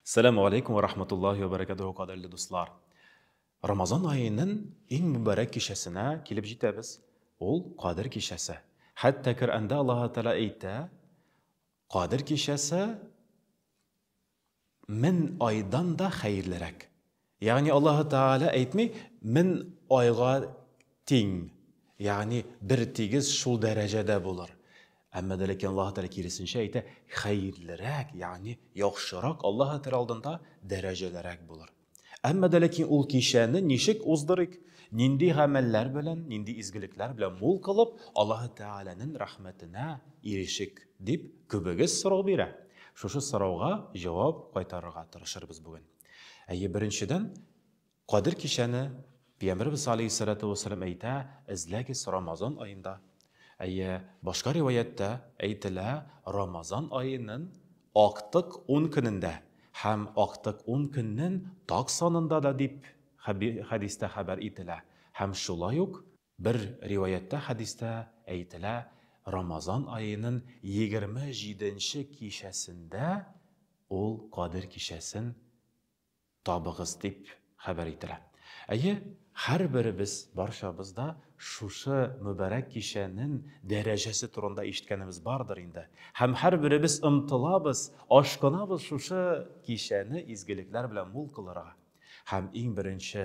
Сәлам алейкум ва рахматуллахи ва баракатуху кадерле дуслар. Рамазан аенын иң мөбарәк кичәсенә килеп җитәбез. Ул Кадер кичәсе. Хәтта Коръәндә Аллаһ Тәгалә әйтә, Кадер кичәсе мең айдан да хәерлерәк. Ягъни Аллаһы Тәгалә әйтми, мин айга тиң, ягъни бертигез шул дәрәҗәдә булыр. Әмма дә ләкин Аллаһы Тәгалә киресенчә әйтә, хәерлерәк, ягъни яхшырак Аллаһы Тәгалә алдында дәрәҗәлерәк булыр. Әмма дә ләкин ул кичәне ничек уздырыйк, нинди гамәлләр белән, нинди изгелекләр белән мул кылып Аллаһы Тәгаләнең рәхмәтенә ирешик, дип күбегез сорау бирә. Шушы сорауга җавап кайтарырга тырышырбыз бүген. Әйе, беренчедән, Кадер кичәне Пәйгамбәрбез алейһиссалату вассалам әйтә, эзләгез Рамазан аенда. Әйе, башка риваяттә әйтелә, Рамазан аенын актык 10 көнендә һәм актык 10 көннен так санында да дип хәдистә хәбәр ителә. Һәм шулай ук Бер риваятьтә хәдистә әйтелә, Рамазан аенын егерме җиденче кичәсендә ул Кадер кичәсен табыгыз дип хәбәр ителә. Әйе, һәрберебез, барчабыз да шушы мөбарәк кичәнен дәрәҗәсе турында ишеткәнебез бардыр инде. Һәм һәрберебез омтылабыз, ашкынабыз шушы кичәне изгелекләр белән мул кылырга. Һәм иң беренче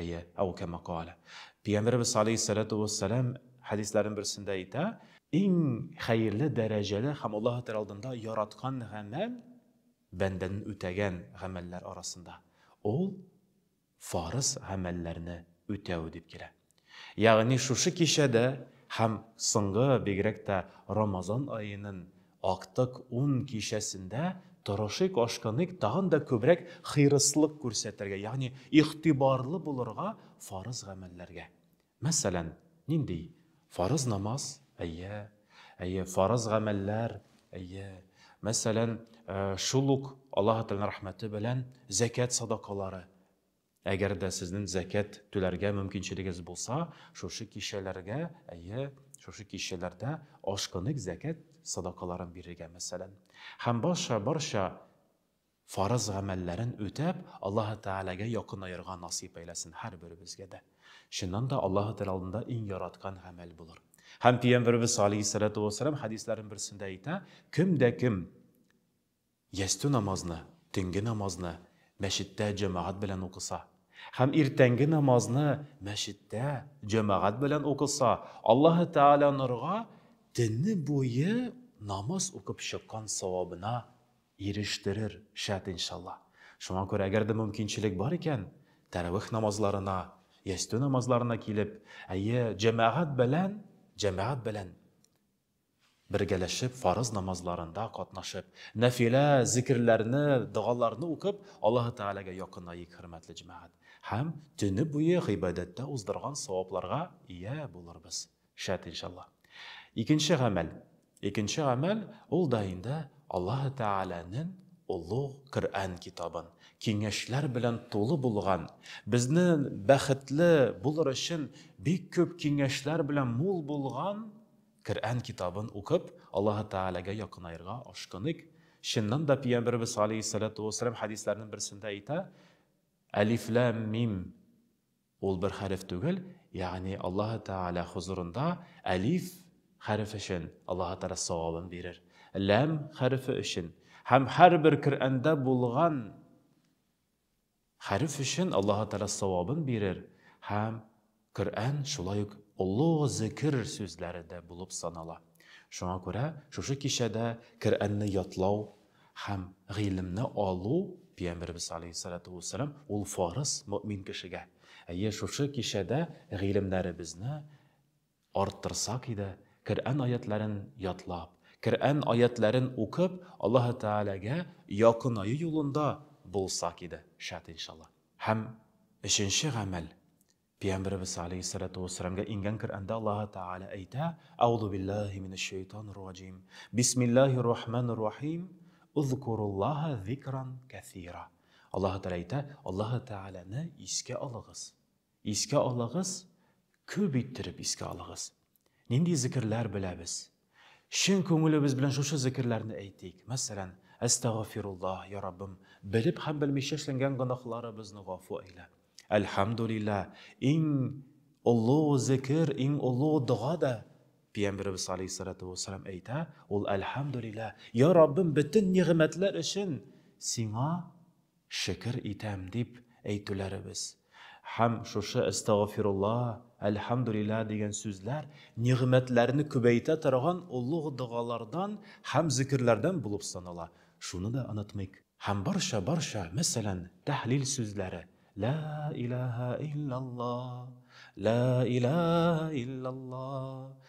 Әйе, әү кәмә каалә. Пәйгамбәребез галәйһиссәләтү вәссәлам хәдисләренең берсендә әйтә, Иң хәерле дәрәҗәле һәм Аллаһы Тәгалә алдында яраткан гамәл, бәндәнең үтәгән гамәлләр арасында, ул фарыз гамәлләрне үтәү дип килә. Ягъни шушы кичәдә һәм соңгы, бигрәк тә Рамазан аеның Актык ун кичәсендә торышыйк-ашкыныйк тагын да күбрәк хирыслык күрсәтергә, ягъни игътибарлы булырга фарыз гамәлләргә. Мәсәлән, нинди? Фарыз намаз, әйе, әйе, фарыз гамәлләр, әйе. Мәсәлән, шул ук Аллаһы Тәгаләнең рәхмәте белән зәкят садакалары. Әгәр дә сезнең зәкят түләргә мөмкинчелегез булса, шушы кичәләргә, әйе, шушы кичәләрдә ашкынык зәкят садакаларын бирергә, мәсәлән. Һәм барча, барча фарыз гамәлләрен үтәп, Аллаһы Тәгаләгә якынаерга насыйп әйләсен һәрберебезгә дә. Чыннан да Аллаһы Тәгалә алдында иң яраткан гамәл булыр. Һәм Пәйгамбәребез алейһиссалату вассалам хәдисләрен берсендә әйтә, кем дә кем Ястү намазны, төнге намазны мәчеттә җәмәгать белән укыса һәм иртәнге намазны мәчеттә җәмәгать белән укыса, Аллаһы Тәгалә норга төне буе намаз укып чыккан савабына ирештерер, шәт иншалла. Шуңа күрә, әгәр дә мөмкинчелек бар икән, тәравих намазларына, ястү намазларына килеп, әйе, җәмәгать белән, җәмәгать белән Бергәләшеп фарыз намазларында катнашып, нәфилә зикерләрне, догаларны укып, Аллаһы Тәгаләгә якынаек, хөрмәтле җәмәгать, һәм төне буе гыйбадәттә уздырган савапларга ия булырбыз, шәт иншалла. Икенче гамәл. Икенче гамәл, ул да инде Аллаһы Тәгаләнең олуг Коръән китабын, киңәшләр белән тулы булган, безнең бәхетле булыр өчен бик күп киңәшләр белән мул булган Коръән китабын укып, Аллаһы Тәгаләгә якынаерга ашкыныйк. Чыннан да, Пәйгамбәребез галәйһиссәләтү вәссәлам хәдисләренең берсендә әйтә, Әлиф-ләм-мим, ул бер хәреф түгел, ягъни Аллаһы Тәгалә хозурында әлиф хәрефе өчен Аллаһы Тәгалә савабын бирер, ләм хәрефе өчен һәм һәрбер Коръәндә булган Хәреф өчен Аллаһы Тәгалә савабын бирер һәм Коръән шулай ук олы зекер сүзләре дә булып санала. Шуңа күрә шушы кичәдә Коръәнне ятлау һәм гыйлемне алу, Пәйгамбәребез галәйһиссәлату уәссәлам, ул фарыз мөэмин кешегә. Әйе, шушы кичәдә гыйлемнәребезне Арттырсак иде, Коръән аятьләрен ятлап, Коръән аятьләрен укып, Аллаһы Тәгаләгә якынаю юлында булсак иде, шәт иншалла. Һәм өченче гамәл, Пиямберебез галәйһиссәләтү вәссәламгә иңгән Коръәндә Аллаһы Тәгалә әйтә, Әгъузу биллаһи минәшшәйтанир раҗим, бисмиллаһир рахманир рахим, Узкуруллаһа зикран кәсира. Аллаһы Тәгалә әйтә, Аллаһы Тәгаләне искә алыгыз. Искә алыгыз, күп иттереп искә алыгыз. Нинди зекерләр беләбез? Чын күңелебез белән шушы зекерләрне әйтик. Мәсәлән, Әстәгъфируллаһ, я Раббым, белеп һәм белмичә эшләнгән гөнаһларыбызны гафу әйлә. Әлхәмдүлилла, иң олы зекер, иң олы дога да Пиямберебез алейһиссалату вәссәлам әйтә, ул Әлхәмдүлилла, я Раббым, бөтен нигъмәтләр өчен Сиңа Шөкер итәм, дип әйтүләребез һәм шушы Әстәгъфирулла, Әлхәмдүлилла дигән сүзләр нигъмәтләрне күбәйтә торган олуг догалардан һәм зикерләрдән булып санала, шуны да онытмыйк. Һәм барча-барча, мәсәлән, тәһлил сүзләре, Лә иләһә иллялла, Лә иләһә иллялла,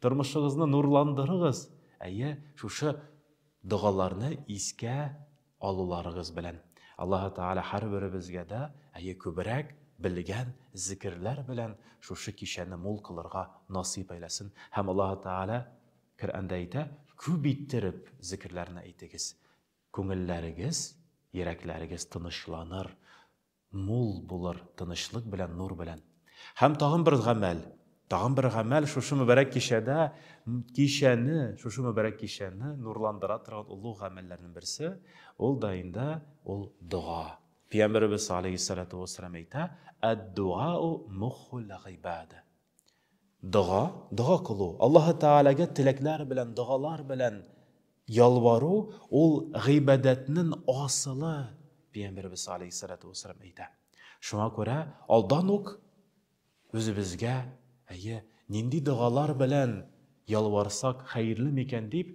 Тормышыгызны нурландырыгыз, әйе, шушы догаларны искә алуларыгыз белән. Аллаһы Тәгалә һәрберебезгә дә, әйе, күбрәк белгән зикерләр белән шушы кичәне мул кылырга насыйп әйләсен. Һәм Аллаһы Тәгалә Коръәндә әйтә, Күп иттереп зикерләрне әйтегез, күңелләрегез, йөрәкләрегез тынычланыр, Мул булыр тынычлык белән, нур белән. Һәм тагын бер гамәл, тагын бер гамәл шушы мөбарәк кичәдә, кичәне, шушы мөбарәк кичәне нурландыра торган олуг гамәлләрнең берсе, ул да инде ул дога. Пәйгамбәребез алейһиссалату вассалам әйтә, Әд-дуау мухул гыйбада. Дога, дога кылу, Аллаһы Тәгаләгә теләкләр белән, догалар белән ялвару, ул гыйбадәтнең асылы, Пәйгамбәрбез алейһиссалату вассалам әйтә. Шуңа күрә алдан ук үзебезгә, әйе, нинди догалар белән ялварсак хәерле микән дип,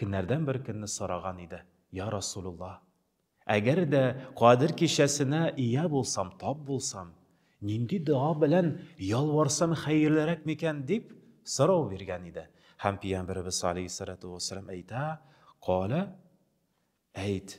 Көннәрдән бер көнне сораган иде, Йа Расулулла! Әгәр дә Кадер кичәсенә ия булсам, тап булсам, нинди дога белән ялварсам хәерлерәк микән? дип сорау биргән иде. Һәм Пиямберебез алейһиссалату вәссәлам әйтә, Калә, әйт,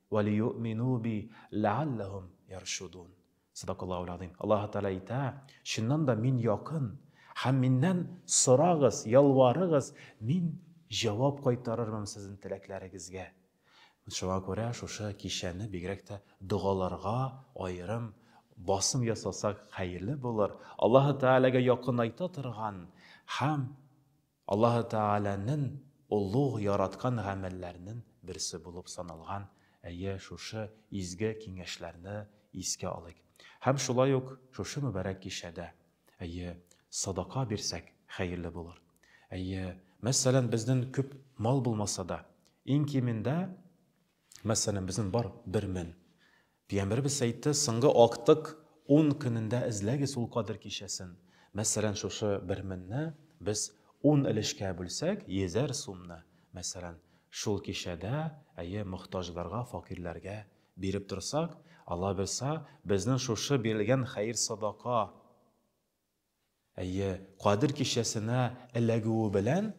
Вәлиюъмину би ләалләһүм яршудун. Садакаллаһу ләгъзыйм. Аллаһы Тәгалә әйтә, Чыннан да Мин якын, һәм Миннән сорагыз, ялварыгыз, Мин җавап кайтарырмын сезнең теләкләрегезгә. Шуңа күрә шушы кичәне бигрәк тә догаларга аерым басым ясасак хәерле булыр. Аллаһы Тәгаләгә якынайта торган һәм Аллаһы Тәгаләнен олуг яраткан гамәлләрнен берсе булып саналган, әйе, шушы изге киңәшләрне искә алыйк. Һәм шулай ук шушы мөбарәк кичәдә, әйе, садака бирсәк, хәерле булыр. Әйе, мәсәлән, безнен күп мал булмаса да, иң кимендә, мәсәлән, безнен бар бер мен, Пиямберебез әйтте, соңгы актык ун көнендә эзләгез ул кадер кичәсен. Мәсәлән, шушы бер менне без ун өлешкә бүлсәк, йөзәр сумны, мәсәлән, шул кичәдә, әйе, мохтаҗларга, факирләргә биреп торсак, Аллабирса, безнең шушы бирелгән хәер-садака, Әйе, Кадер кичәсенә эләгүе белән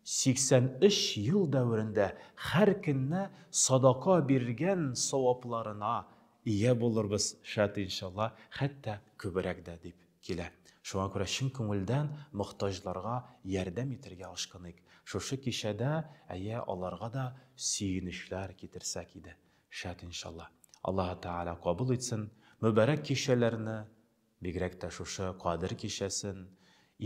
83 ел дәверендә һәр көнне садака биргән савапларына ия булырбыз, шат иншалла, хәтта күбрәк дә, дип килә. Шуңа күрә чын күңелдән мохтаҗларга ярдәм итәргә ашкыныйк. Шушы кичәдә, әйе, аларга да сөенечләр китерсәк иде, шат иншалла. Аллаһы Тәгалә кабул итсен, мөбарәк кичәләрне Бигрәк тә шушы Кадер кичәсен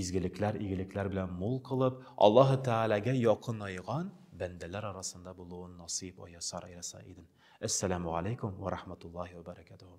изгелекләр, игелекләр белән мул кылып, Аллаһы Тәгаләгә якынайган бәндәләр арасында булуын насыйп аясар аяса идем. Әссәламү галәйкүм вә рахматуллаһи вә бәрәкәтүһү.